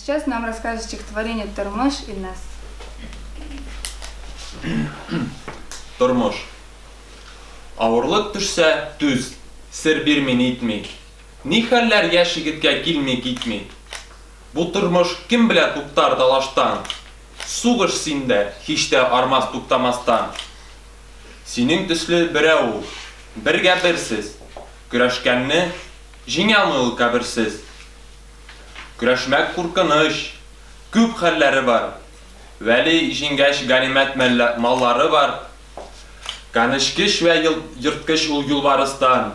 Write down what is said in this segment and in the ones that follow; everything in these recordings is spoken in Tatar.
сейчас нам расскажет стихотворение «Тормош» Ильнас. Тормош. Авырлык төшсә, түз, сер бирми нитми. Ни хәлләр яшь егеткә килми китми. Бу тормыш кем белә туктар талаштан, Сугыш синдә һич тә армас туктамастан. Синең төсле берәү ул, бергә берсез, Көрәшкәнне җиңәлми ул каберсез. Көрәшмәк куркыныч, күп хәлләре бар, Вәли җиңгәч ганимәт маллары бар. Канечкеч вә ерткыч ул юлбарыстан.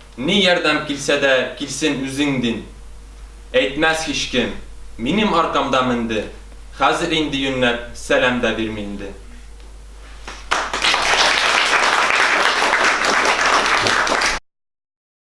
Ни ярдәм килсә дә килсен үзең дин. Әйтмәс һичкем, минем аркамда менде, хәзер инде юньләп сәлам да бирми инде.